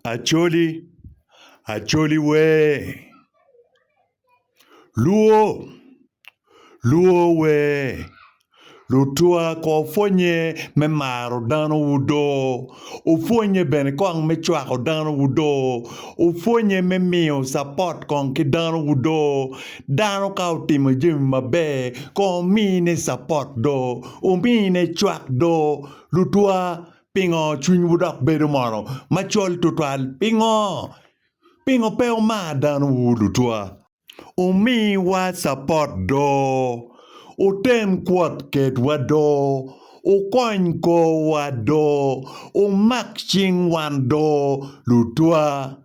Acholi, Acholi wee! Luo, Luo wee! Lutwa kong opwonye me maro dano wudo, opwonye bene kong me cwako dano wudo, opwonye me miyo capot kong ki dano wudo, dano ka otimo jami maber kong omine capot do, omine cwak do, lutwa Pingo cwinywu dok bedo mono macol tutwal? Pingo? Pingo pe wumar danowu lutwa? Wumiwa capot do, wuten kwot kedwa do, wukony korwa do, wumak cing wan do lutwa?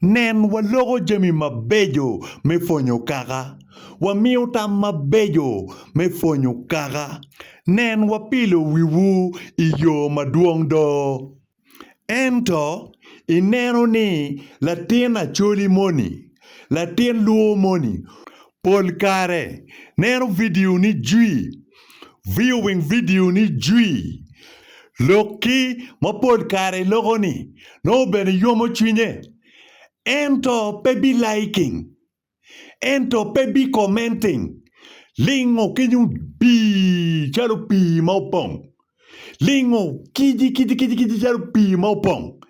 Nen, waloko jami mabeco me pwonyo kaka, wamiyo tam mabeco me pwonyo kaka, nen, wapilo wiwu i yo madwong do. Ento, ineno ni latin acholi moni, latin lwo moni, Pol kare, neno vidio ni Jwi! Viyo weng vidio ni Jwi! Lok ki, ma pol kare i loko-ni nongo bene yomo cwinye. Ento pe bi liking. Ento pe bi commenting. Lingo ki nyung bii calo pii ma opong. Lingo kici kici kici kici calo pii ma opong.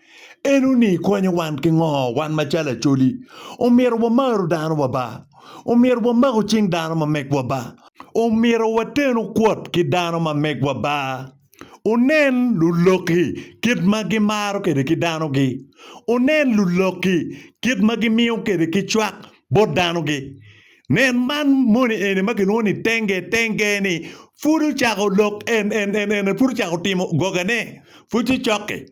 Eno-ni konyo wan ki ngo? Wan macalo Acholi, omyero wamaru danowa ba. Omyero wamaku cing dano ma megwa ba. Omyero watenu kwot ki dano ma megwa ba. Wunen luloki kit ma gimaro kwede ki danogi. Wunen luloki kit ma gimiyo kwede ki cwak bot danogi. Nen man moni eni ma kilwongo ni Tenge. Tenge-ni pud ocako lok en, en, en, en pud ocako timo gogane. Pud tye cokke.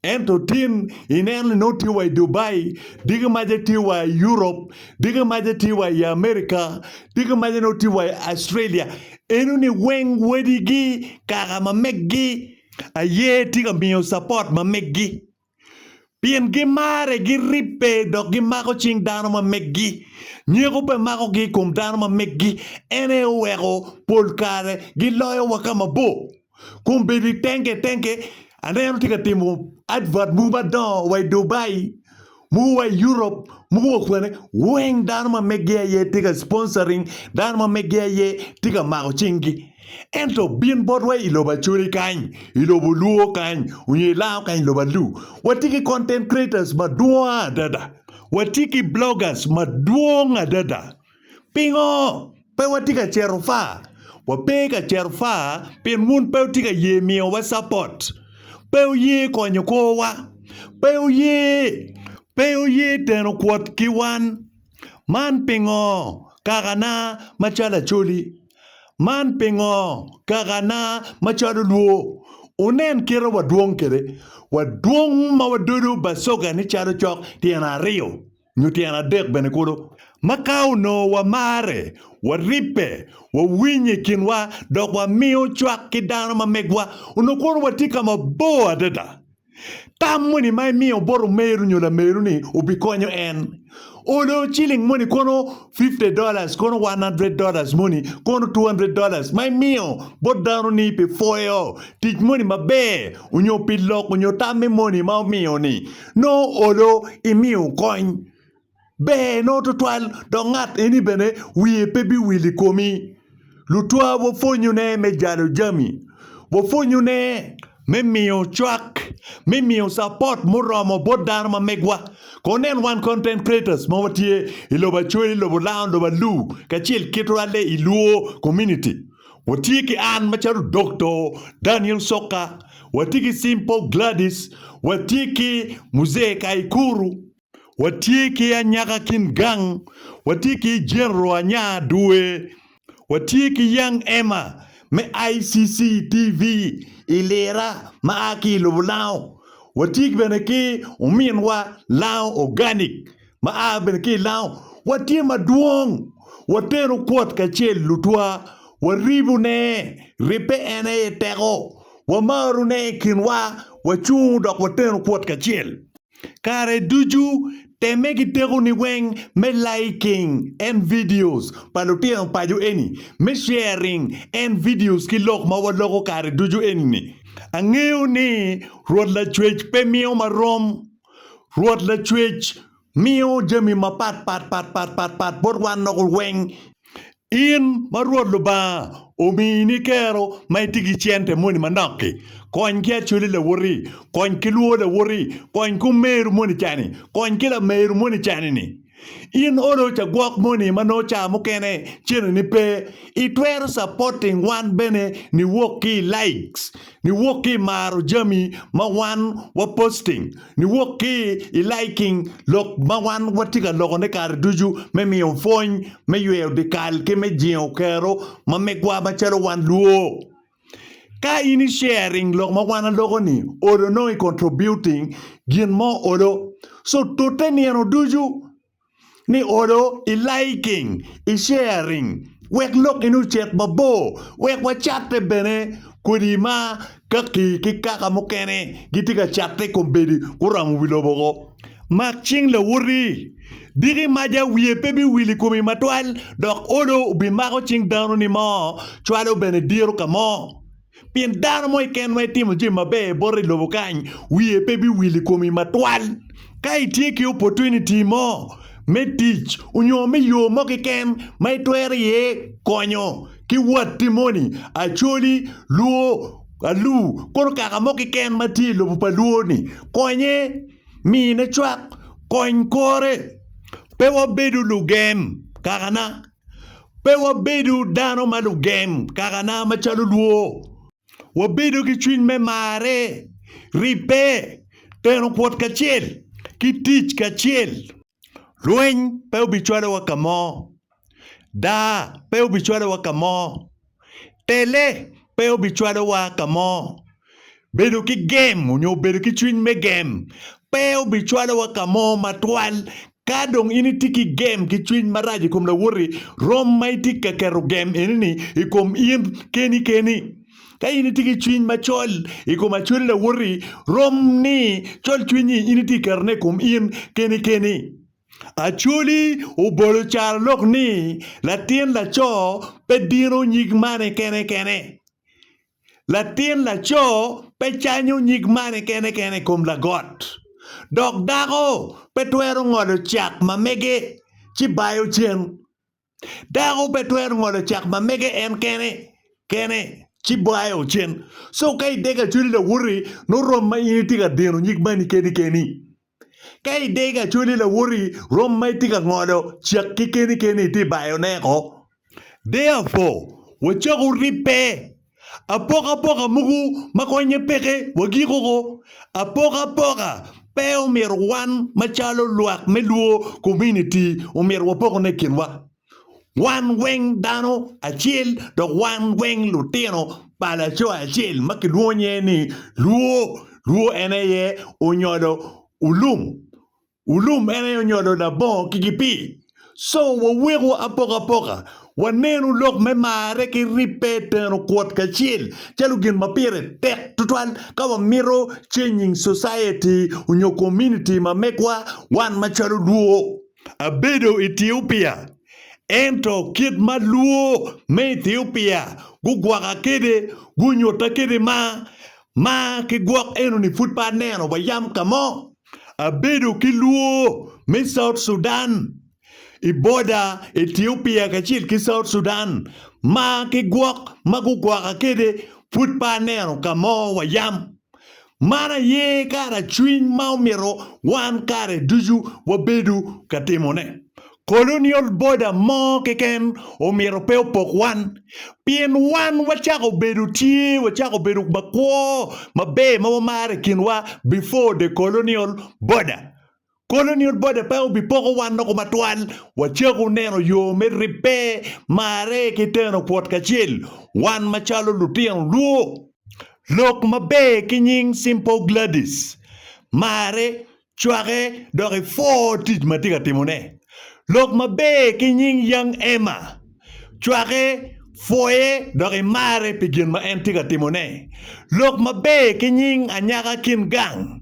Ento tin ineno ni nongo tye wa i Dubai, diki maca tye wa i Europe, diki maca tye wa i America, diki maca nongo tye wa i Australia. Enoni weng wadigi, kaka ma meggi aye tye ka miyo support ma meggi. pien gimare, giribbe, dok gimako cing dano ma meggi. Nyeko pe makogi i kom dano ma meggi, en aye oweko pol kare giloyowa ka mabor. Kun bedo i tenge tenge, aneno tye ka timo advert mogo madongo wa i Dubai, mogo wa i Europe, mogo wa kwene, weng dano ma meggi aye tye ka sponsoring, dano ma meggi aye tye ka mako cinggi. Ento bin botwa i lobo Acholi kany, i lobo Luo kany, onyo i Lao kany, lobo Alu. Watye ki content creators madwong adada. Watye ki bloggers madwong adada. Pingo pe watye ka cito far? Wape ka cito far pien wun pe wutye ka ye miyowa support. Pe wuye konyo korwa. Pe wuye, pe wuye teno kwot ki wan. Man pingo kakana macalo Acholi? Man pingo kakana macalo lwo? Wunen kite wadwong kwede. Wadwong ma wadodo bacogani calo cok tyen aryo nyo tyen adek bene kulu. Ma ka onongo wamarre, waribbe, wawinyo i kinwa, dok wamiyo cwak ki dano ma megwa, onongo kono watye ka mabor adada. Tam moni ma imiyo bot omeru nyo lameru ni obikonyo en. Olo ciling moni kono 50 dollars kono 100 dollars moni kono 200 dollars ma imiyo bot dano ni pi pwoyo tic moni maber onyo pi loko onyo tam me moni ma omiyo ni nongo olo imiyo kony. Ber nongo twatwal dok ngat eni bene wiye pe biwil i komi. Lutwa wapwonyone me jalo jami. Wapwonyone me miyo cwak, me miyo capot muromo bot dano ma megwa. Kono nen wan content creators ma watye i lobo Acwe, i lobo Laon, lobo Alu kacel ki twale i Luo community. Watye ki an macalo Doctor Daniel Soka, watye ki Simple Gladys, watye ki Muzee Kaikuru. Watye ki anyaka kin gang, watye ki General Anya Due, watye ki Young Emma me ICC TV i Lira ma a ki i lobo Lango, watye bene ki ominwa Lango Organic ma a bene ki i Lango. Watye madwong, wateno kwot kacel lutwa, waribone, ribbe en aye teko, wamarone i kinwa, wacung dok wateno kwot kacel. Kare ducu temme ki tekoni weng me liking en videos pa lutino paco eni, me sharing en videos ki lok ma waloko kare ducu eni-ni. Angeyo ni Rwot Lacwec pe miyo ma rom. Rwot Lacwec miyo jami mapat pat pat pat pat pat bot wan loko weng. In ma Rwot Lubanga omini kero ma itye ki cente moni manok-ki, kony ki acoli lawoti, kony ki lwo lawoti, kony ki omeru moni cani, kony ki lameru moni cani-ni. In olo ca gwok moni ma nongo ca mukene cene-ni pe, itwero capoting wan bene niwok ki i likes niwok ki i maro jami ma wan wa posting, niwok ki i liking lok ma wan watye ka lokone kare ducu me miyo pwony, me yweyo dyekal ki me jingo kero ma megwa macalo wan luo. Ka in i sharing lok ma wan aloko-ni olo nongo i contributing gin mo olo. So tute nino ducu. ni olo i liking i sharing wek lok in ocit mabor wek wa catte bene kodi ma kaki ki kaka mukene gitye ka catte kombedi guramo wi lobo ko mak cing lawoti diki maja wiye pe bi wil i komi matwal dok olo obi mako cing dano ni mo cwalo bene diro kamo. Pien dano mo keken ma itimo jami maber bote i lobo kany, wiye pe biwil i komi matwal. Ka itye ki opportunity mo me tic onyo me yo mo keken ma itwero iye konyo ki watti moni, acholi, luo, alu, kono kaka mo keken ma tye i lobo pa luo-ni, konye, mine cwak, kony kore. Pe wabedu lugen kakana? Pe wabedo dano ma lugem kakana macalo lwo. Wabedo ki cwiny me marre, ribbe, teno kwot kacel, ki tic kacel. Lweny pe obicwalowa ka mo. Daa pe obicwalowa ka mo. Pele, pe obicwalowa ka mo. Bedo ki gem onyo bedo ki cwiny me gem pe obicwalowa ka mo matwal ka dong in itye ki gem ki cwiny marac i kom lawoti rom ma itye ka keto gem eni-ni i kom in keni keni. Ka in itye ki cwiny macol i kom acwali lawoti rom ni col cwiny-nyi in itye ka ketone i kom in keni keni. Acholi obolo carolok ni, Latin laco pe dino nyig mane kene kene. Latin laco pe canyo nyig mane kene kene i kom lagot, dok dako pe twero ngolo cak ma mege ci bayo cen. Dako pe twero ngolo cak ma mege en kene kene, ci bwaye ocen. So ka idege acholi lawoti, nongo rom ma in itye ka dino nyig mani keni keni. Ka idege acholi lawoti, rom ma itye ka ngolo cak ki keni keni itye bayone ko. Therefore, wacok wuribbe. Apokapoka mogo ma konye peke wagiko ko. Apokapoka pe omyero wan macalo lwak me Luo kominiti omyero wapokone i kinwa. Wan weng dano acel dok wan weng lutino pa laco acel ma kilwongo nyinge ni Luo. Luo en aye onyolo ulum. Ulum en aye onyolo labongo ki gipii. Co waweko apokapoka, wanenu lok me marre ki ribbe teno kwot kacel calo gin ma pire tek tutwal ka wamito changing society onyo community ma megwa wan macalo Luo. Abedo Ethiopia, ento kit ma Luo me Ethiopia gugwoka kede, gunyuta kede ma, ma ki gwok enoni pud pe aneno wa yam kamo. Abedo ki lwor me South Sudan i boda Ethiopia kacel ki South Sudan ma ki gwok ma gugwoka kede pwod pe aneno ka mo wa yam. Man aye kara cwiny ma omito wan kare ducu wabedo ka timone. Colonial border mo keken omyero pe opok wan, pien wan wacako bedo tye wacako bedo ma kwo maber ma wamaro i kinwa before the colonial border. Colonial border pe obipoko wan noko matwal, wacako neno yo me ribbe, marre ki teno pwot kacel wan macalo lutino luo. Lok maber ki nying Simple Gladys, marre Cwake dok ipwor tic ma tye ka timone. Lok maber ki nying Young Emma. Cwake, pwoye, dok imarre pi gin ma en tye ka timone. Lok maber ki nying anyaka Qin Gang.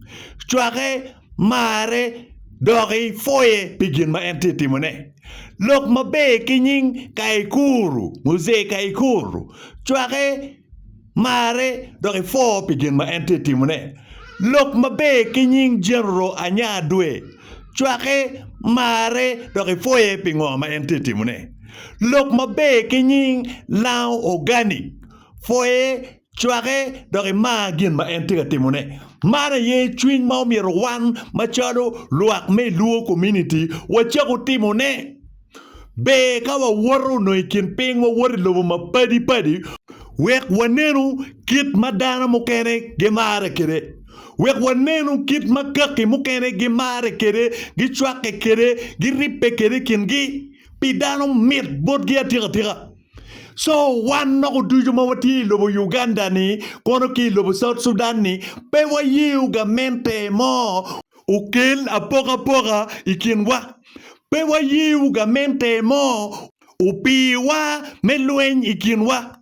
Cwake, marre, dok ipwoye pi gin ma en tye timone. Lok maber ki nying Kaikuru, Muzee Kaikuru. Cwake, Marre dok ipwo pi gin ma en tye ka timone. Lok maber ki nying Genro anya dwe. Cwake, mare, dok ipwoye pi ngo ma en tye ka timone. Lok maber ki nying Lango Organic. Pwoye, cwake, dok imar gin ma en tye ka timone. Man aye cwiny ma omyero wan macalo lwak me i Luo kominiti wacako timone. Ber ka wawoto nongo i kin piny, wawoto i lobo mapadi padi wek wanenu kit ma dano mukene gimarre kwede, wek wanenu kit ma kaki mukene gimarre kwede, gicwakke kwede, giribbe kwede i kingi, pi dano mit botgi atika tika. Co wan noko ducu ma watye i lobo Uganda-ni kono ki i lobo South Sudan-ni pe wayeyo gamente mo. okel apokapoka i kinwa. Pe waye gamente mo opiwa me lweny i kinwa.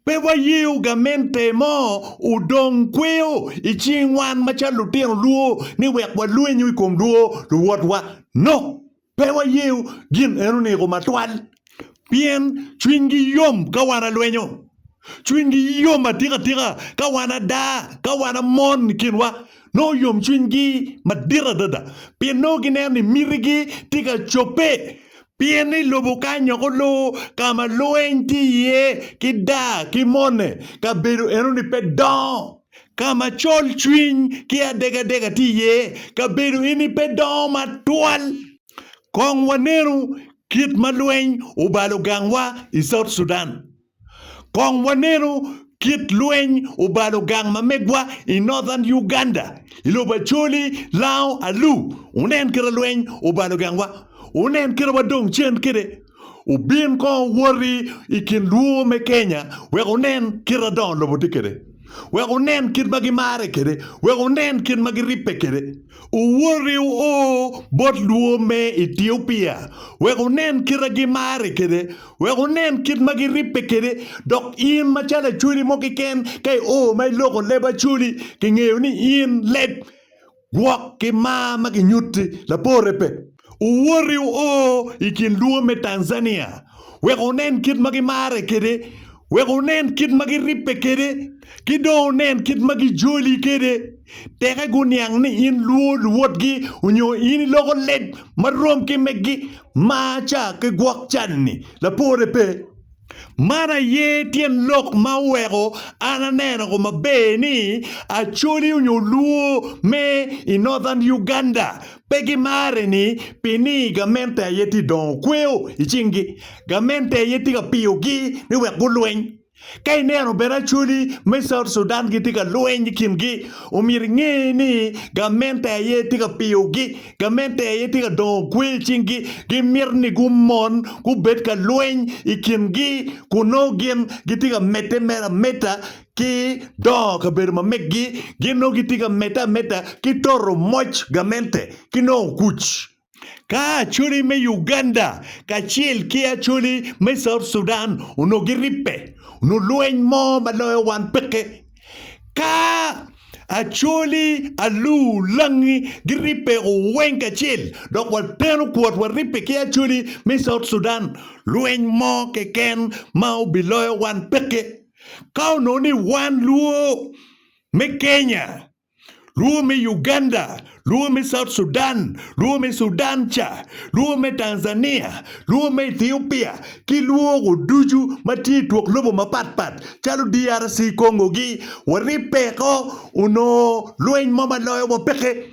Pe waye gamente mo odong kweyo i cing wan macalo lutino lwo ni wek walwenyu i kom lwo luwotwa. No! Pe wayeyo gin en oneko matwal, pien cwinygi yom ka wan alwenyo, cwinygi yom atika tika ka wan ada, ka wan amon i kinwa. Nongo yom cwinygi madit adada, pien nongo gineno ni mitigi tye ka cobbe. Pien i lobo ka nyoko lu, ka ma lweny tye iye, ki da, ki mone, kabedo enoni pe dongo. Ka ma colcwiny ki adegadega tye iye, kabedo eni pe dongo matwal. Kong wanenu kit ma lweny obalo gangwa i South Sudan. Kong wanenu kit lweny obalo gang ma megwa i Northern Uganda, i lobo Acholi, Lao, Alu. Wunen kit ma lweny obalo gangwa. Wunen kit ma wadong cen kwede. obin kong owoti i kin lwor me Kenya wek wunen kit ma dongo lobo tye kwede, wek wunen kit ma gimarre kwede, wek wunen kit ma giribbe kwede. Owoti wuo bot lwor me Etiopia wek wunen kit ma gimarre kwede, wek wunen kit ma giribbe kwede, dok in macalo Acholi mo keken ka io ma iloko leb Acholi, kingeyo ni in leb. Gwok ki mar ma ginyutti labore pe. Owoti oo i kin lubo me Tanzania wek onen kit ma gimarre kwede, wek onen kit ma giribbe kwede, ki dong onen kit ma gijoli kwede. Teke guniang ni in luwo luwotgi onyo in iloko leb ma rom ki megi mar ca ki gwok cal-ni. Lapore pe. Man aye tyen lok ma oweko an aneno ko maber ni Acholi onyo Luo me i Northern Uganda pe gimare ni pi ni gamente aye tye dongo kweo i cing gi. Gamente aye tye ka piyo gi ni wek gulweny. Ka ineno bene Acholi me South Sudan gitye ka lweny i kin gi omyero inge ni gamente aye tye ka piyo gi gamente aye tye ka dongo kwe i cingi, gimito ni gumon gubed ka lweny i kingi kun nongo gin gitye ka medde mere ameda ki dongo kabedo ma meggi, gin nongo gitye ka medde ameda ki toto moc gamente ki nongo kuc. Ka Acholi me Uganda kacel ki Acholi me South Sudan onongo giribbe, onongo lweny mo ma loyo wan peke. Ka Acholi, Alu, Langi giribbe oweng kacel dok wateno kwot waribbe ki Acholi me South Sudan, lweny mo keken ma obiloyo wan peke. Ka onongo ni wan Luo me Kenya Lwongo me Uganda, lwongo me South Sudan, lwongo me Sudan ca, lwongo me Tanzania, lwongo me Ethiopia ki lwongo ducu ma tye i twok lobo mapat pat calo DRC Congo-gi, waribbe ko onongo lweny mo ma loyowa peke.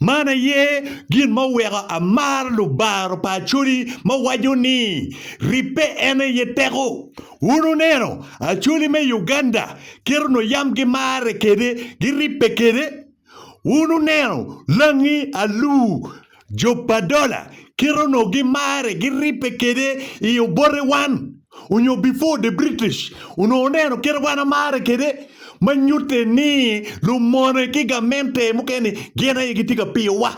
Man aye gin ma oweko amaro lubaro pa Acholi ma waco ni, Ribbe en aye teko. Wun wuneno Acholi me Uganda kit onongo yam gimarre kwede, giribbe kwede? Wun wuneno langi alur, jo pa dola, kit onongo gimarre, giribbe kwede i obote wan? onyo before the British onongo oneno kite wan amare kede ma nyute ni lumone ki gamente mukene gin aye gitye ka piyo wa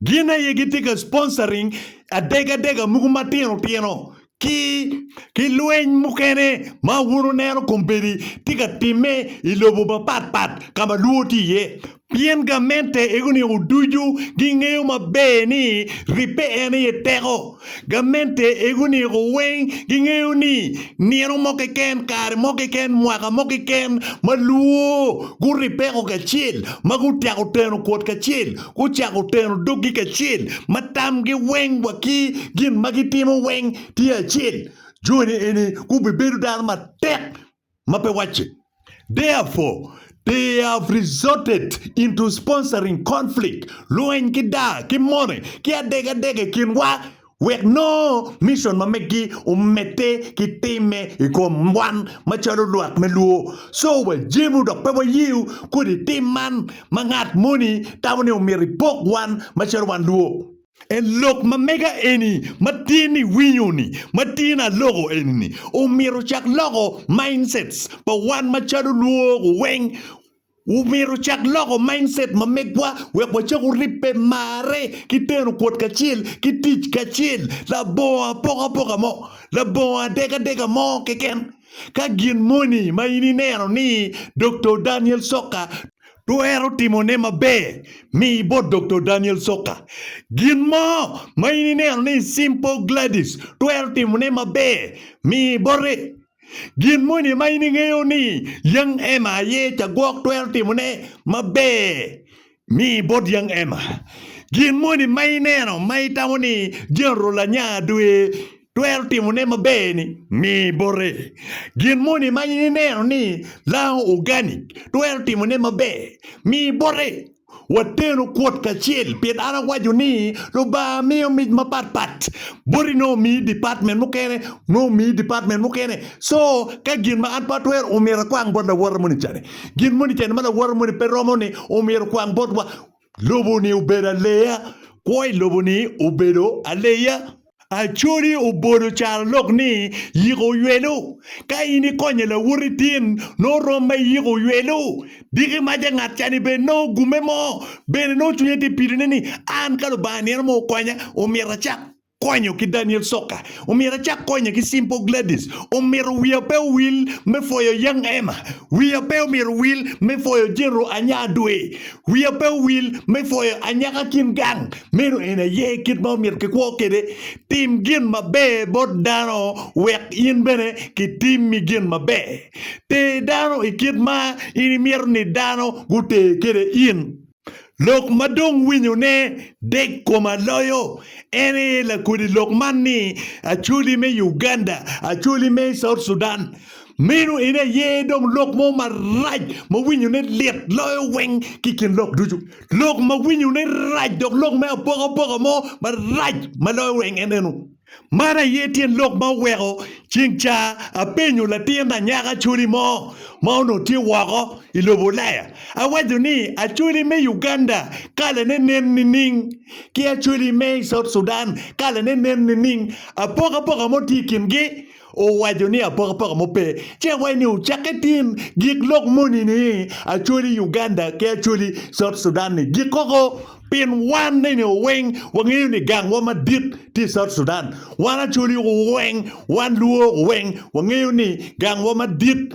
gin aye gitye ka sponsoring adega adega mogo matino tino ki ki lweny mukene ma wun wuneno kombeddi tye ka time ilobo mapat pat kama luo tye iye Pien gamente ego niko ducu gingeyo maber ni ribbe en aye teko. Gamente ego niko weng gingeyo ni nino mo keken, kare mo keken, mwaka mo keken ma lwo guribbeko kacel, ma gutyeko teno kwot kacel, gucako teno doggi kacel, ma tamgi weng wa ki gin ma gitimo weng tye acel, joni eni gubibedo dano matek. Mape wacci, Therefore, they have resorted into sponsoring conflict, lweny ki daa ki mone ki adegadega i kinwa wek nongo mission ma meggi omedde ki timme i kom wan macalo lwak me lwo. So wajemu dok pe wayeyo kodi tim man ma ngat moni tamo ni omyero ipok wan macalo wan lwo. En lok ma mega eni ma tyen ni winyo ni ma tyen aloko eni ni omyero ocak loko mindsets pa wan ma calo lwok weng omyero ocak loko mindset ma megwa wek wa cak oribbe marre ki teno kwot kacel ki tic kacel labongo apoka apoka mo labongo adega adega mo keken ka gin moni ma in ineno ni Doktor Daniel Soka Twero timone maber mi ibot Doktor Daniel Soka. Gin mo ma in ineno ni Simple Gladys twero timone maber mi ibote. Gin moni ma in ingeyo ni Young Emma aye cagwok twero timone maber mi ibot Young Emma. Gin moni ma ineno ma itamo ni General anya dwe. Twero timone maber ni mi bote. Gin moni ma in ineno ni lango organic twero timone maber, mi bote. Wateno kwot kacel pien an awaco ni Lubanga miyo mic mapat pat. Boti nongo omiyi department mukene, nongo omiyi department mukene. Co ka gin ma an pe atwero omyero akwang bot lawote moni cani. Gin moni cani ma lawote moni pe romo ni omyero okwang botwa. Lobo-ni obedo aleya, kwo i lobo-ni obedo aleya. Acholi obodo caro lok ni yiko oywelo. Ka in ikonye lawoti tin, nongo rom ma iyiko oywelo. Diki maca ngat cani bene nongo ogumme mo, bene nongo cwinye tye pidone ni, 'An ka Lubanga nino mo okonya, omyero acak. Konyo ki Daniel Soka, Omyero acak konye ki Simple Gladys, Omyero wiya pe owil me pwoyo Young Emma, Wiya pe omyero owil me pwoyo Jero Anya Adwe, Wiya pe owil me pwoyo Anyaka Kim Gang. Meno en aye kit ma omyero kikwo kwede. Tim gin maber bot dano wek in bene kitimmi gin maber. Ter dano i kit ma in imito ni dano guter kwede in. Lok ma dong winyone dek koma loyo en aye lakodi lok man ni Acholi me Uganda, Acholi me South Sudan. Meno en aye dong lok mo marac ma winyone lit loyo weng ki i kin lok ducu. Lok ma winyone rac dok lok me apokapoka mo marac ma loyo weng en eno. Man aye tyen lok ma oweko ceng ca apenyo latin anyaka Acholi mo ma onongo tye woko i lobo Ulaya. Awaco ni Acholi me Uganda kalane nen nining? Ki Acholi me i South Sudan kalane nen nining? Apokapoka mo tye i kingi? Owaco ni apokapoko mo pe, ce wai ni wucak itim gik lok moni ni acholi Uganda ki acholi South Sudan ni gik koko pin wan ni ni weng wangeyo ni gang wa madit tye South Sudan. Wan acholi weng, wan luo weng wangeyo ni gang wa madit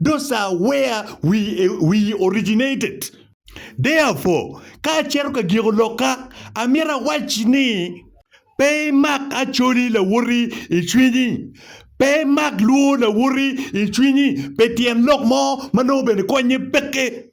Those are where we, we originated. Therefore, ka acito ka giko lokka, amito awac ni, Pe imak Acholi lawoti i cwinyi. Pe imak Luo lawoti i cwinyi pi tyen lok mo ma nongo bene konnye peke.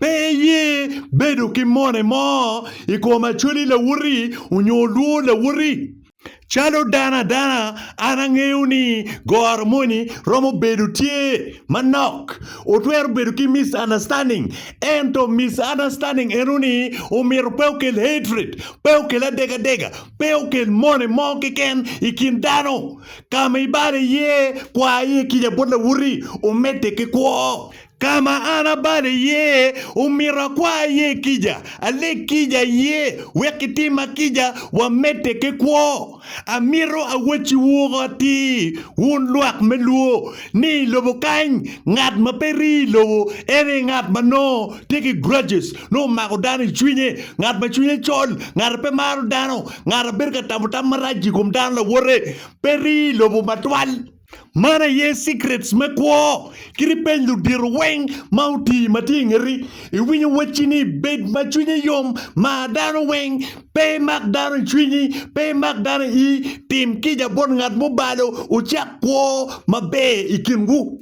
Pe iye bedo ki mone mo i kom Acholi Lawoti onyo Olwor Lawoti. Calo dano adana, an angeyo ni goro moni romo bedo tye manok. Otwero bedo ki misunderstanding, ento misunderstanding eno ni omito pe okel hatred, pe okel adegadega, pe okel mone mo keken i kin dano. Ka ma ibalo iye, kwa iye kica bot Lawoti, omedde ki kwo. Ka ma an abalo iye, omito akwa aye kica, aleg kica iye, wek kitim ma kica, wamedde ki kwo. Amito awacci woko atir, wun lwak me lwo, ni i lobo kany, ngat ma pe ri i lobo, en aye ngat ma nongo tye ki grudges, nongo omako dano i cwinye, ngat ma cwinye col, ngat a pe maro dano, ngat a bedo ka tamo tam marac-ci i kom dano lawote, pe ri i lobo matwal. Man aye secrets me kwo. Kit ipeny ludito weng ma oti ma tye i ngeti, iwinyo wacci ni bed ma cwinyi yom, mar dano weng, pe imak dano i cwinyi, pe imak dano i ii, tim kica bot ngat ma obalo, wucak kwo maber i kinwu.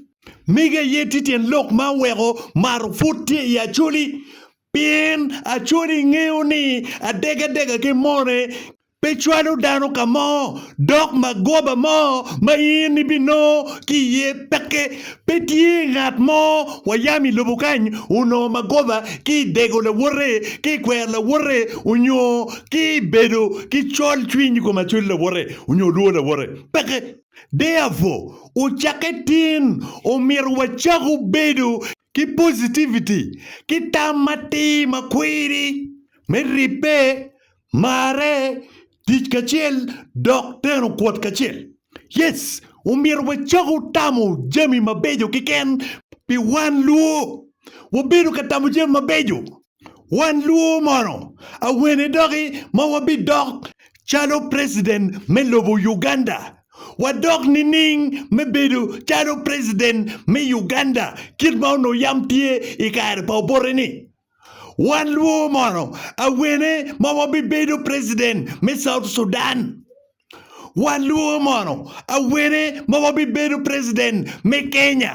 Mege aye tye tyen lok ma oweko mato pud tye i Acholi. Pien Acholi ngeyo ni adegga degga ki mone Pe cwalo dano ka mo, dok magoba mo ma in ibinongo ki iye peke. Pe tye ngat mo wa yam i lobo kany onongo magoba ki i dego lawote, ki i kwero lawote, onyo ki i bedo ki col cwiny i kom acwali lawote, onyo lwo lawote. Peke. Therefore, ocakke tin, omito wacaku bedo ki positivity ki tam matir ma kwiri me ribbe, marre, tic kacel, dok teno kwot kacel. Yes, omyero wacoki otamo jami mabeco keken pi wan lwo. Wabedo ka tamo jami mabeco Wan lwo mono awene doki ma wabidok calo president me lobo Uganda? Wadok nining me bedo calo president me Uganda kit ma onongo yam tye i kare pa Obote-ni? Wan lwo mono awene ma wabibedo president me South Sudan? Wan lwo mono awene ma wabibedo president me Kenya?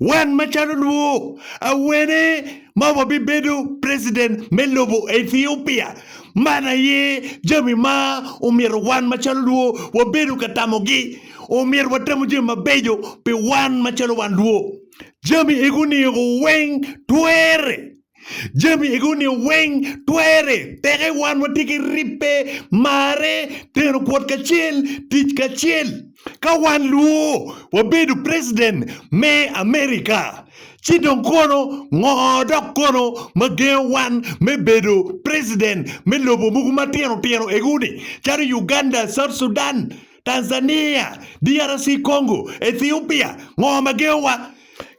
Wan macalo lwo, awene ma wabibedo preciden me lobo Ethiopia? Man aye jami ma omyero wan macalo lwo wabedo ka tamogi. Omyero watamo jami mabeco pi wan macalo wan lwo. Jami ego niego weng twerre. Jami ego-ni weng twere, teke wan watye ki ribbe, marre, teno kwot kacel, tic kacel. Ka wan luwo wabedo president me America, ci dong kono ngo dok kono ma gengo wan me bedo president me lobo mogo matino tino ego-ni calo Uganda, South Sudan, Tanzania, DRC Congo, Ethiopia, ngo ma gengo wa?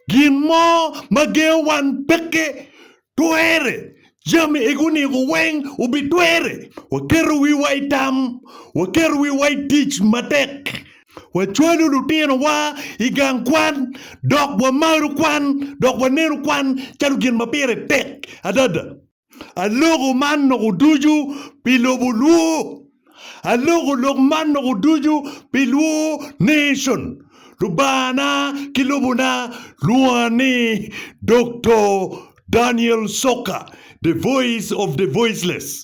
Gin mo ma gengo wan peke twere. Jami egi oniko weng obitwere. Waketo wiwa i tam, waketo wiwa i tic matek, wacwalo lutinowa i gang kwan, dok wamaro kwan, dok waneno kwan calo gin ma pire tek adada. Aloko man loko ducu pi lobo lwo. Aloko lok man loko ducu pi lwo nation. Lubanga-na ki lobona lwonga ni Doktor Daniel Soka, the voice of the voiceless.